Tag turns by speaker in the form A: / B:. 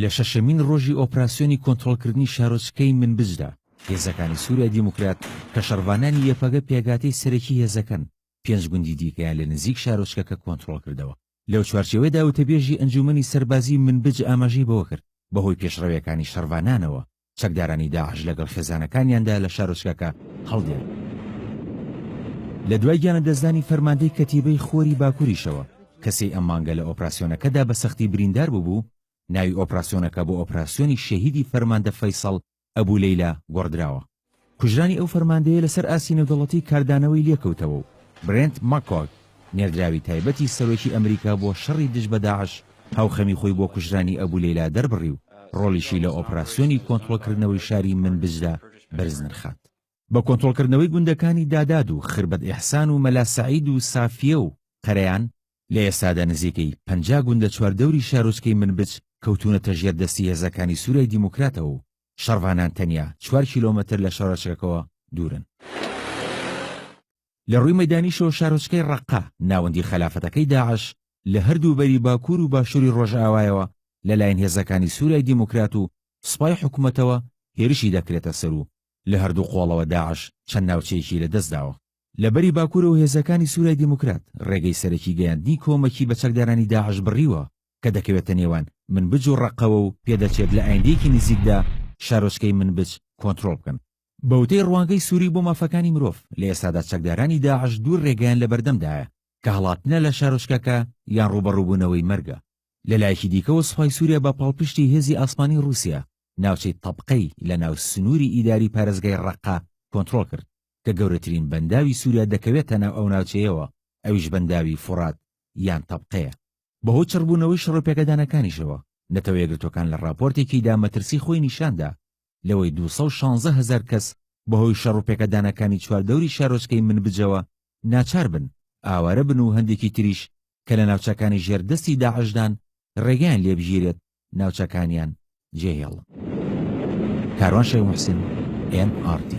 A: لە شەشەمین ڕۆژی ئۆپراسیۆنی کۆنترۆڵکردنی شارۆچکەی منبجدا، هێزەکانی سوریای دیموکرات کە شەڕڤانانی یەپەگە پێگاتەی سەرەکی هێزەکەن، پێنج گوندی دیکەیان لە نزیک شارۆچکەکە کۆنترۆڵ کردەوە. لەو چوارچێوەیدا وتەبێژی ئەنجوومەنی سەربازیی منبج ئاماژەی بەوە کرد، بەهۆی پێشڕەوییەکانی شەڕڤانانەوە، چەکدارانی داعش لەگەڵ خێزانەکانیاندا لە شارۆچکەکە هەڵدێن. لە دوای گیانلەدەستدانی فەرماندەی کەتیبەی خۆری باکوریشەوە، کە سێی ئەم مانگە لە ئۆپراسیۆنەکەدا بە سەختی بریندار ببوو، ناوی ئۆپراسیۆنەکە بۆ ئۆپراسیۆنی شەهیدی فەرماندە فەیسەڵ ئەبو لەیلا گۆڕدراوە. کوژرانی ئەو فەرماندەیە لەسەر ئاستی نێودەڵەتی کاردانەوەی لێکەوتەوە و برێنت مەککۆگ، نێردراوی تایبەتی سەرۆکی ئەمریکا بۆ شەڕی دژ بە داعش هاوخەمی خۆی بۆ کوژرانی ئەبو لەیلا دەربڕی و ڕۆڵیشی لە ئۆپراسیۆنی کۆنتڕۆڵکردنەوەی شاری منبجدا بەرز نرخاند. بە کۆنترۆڵکردنەوەی گوندەکانی داداد و خربەت ئیحسان و مەلا سەعید و سافیە و قەرەیان، لە ئێستادا نزیکەی پەنجا گوندە چواردەوری شارۆچکەی منبج کەوتوونەتە ژێر دەستی هێزەکانی سوریای دیموکراتەوە و شەڕڤانان تەنیا چوار کیلۆمەتر لە شارۆچکەکەوە دوورن. لە ڕووی مەیدانیشەوە شارۆچکەی ڕەققە، ناوەندی خەلافەتەکەی داعش، لە هەردوو بەری باکوور و باشووری ڕۆژئاوایەوە لەلایەن هێزەکانی سوریای دیموکرات و سوپای حکومەتەوە هێرشی دەکرێتە سەر و لە هەردوو قۆڵەوە داعش چەند ناوچەیەکی لەدەستداوە. لە بەری باکوورەوە هێزەکانی سوریای دیموکرات ڕێگەی سەرەکی گەیاندنی کۆمەکی بە چەکدارانی داعش بڕیوە کە دەکەوێتە نێوان منبج و ڕەققەوە و پێدەچێت لە ئایندەیەکی نزیکدا شارۆچکەی منبج کۆنترۆڵ بکەن. بەوتەی ڕوانگەی سوری بۆ مافەکانی مرۆڤ، لە ئێستادا چەکدارانی داعش دوو ڕێگەیان لەبەردەمدایە کە هەڵاتنە لە شارۆچکەکە یان ڕووبەڕووبوونەوەی مەرگە. لەلایەکی دیکەوە سوپای سوریا بە پاڵپشتی هێزی ئاسمانی ڕوسیا ناوچەی تەبقەی لەناو سنوری ئیداری پارێزگای ڕەققە کۆنترۆڵ کرد. کە گەورەترین بەنداوی سوریا دەکەوێتە ناو ئەو ناوچەیەوە، ئەویش بەنداوی فوڕات یان تەبقەیە. بەهۆی چڕبوونەوەی شەڕو پێکەدانەکانیشەوە، نەتەوە یەکگرتووەکان لە ڕاپۆرتێکیدا مەترسی خۆی نیشاندا لەوەی دوو سەد و شانزە هەزار کەس بەهۆی شەڕو پێکەدانەکانی چواردەوری شارۆچکەی منبجەوە ناچاربن ئاوارەبن و هەندێکی تریش کە لە ناوچەکانی ژێر دەستی داعشدان ڕێگەیان لێبگیرێت ناوچەکانیان جێهێڵن. کاروان شێخ موحسین، ئێن ئاڕ تی.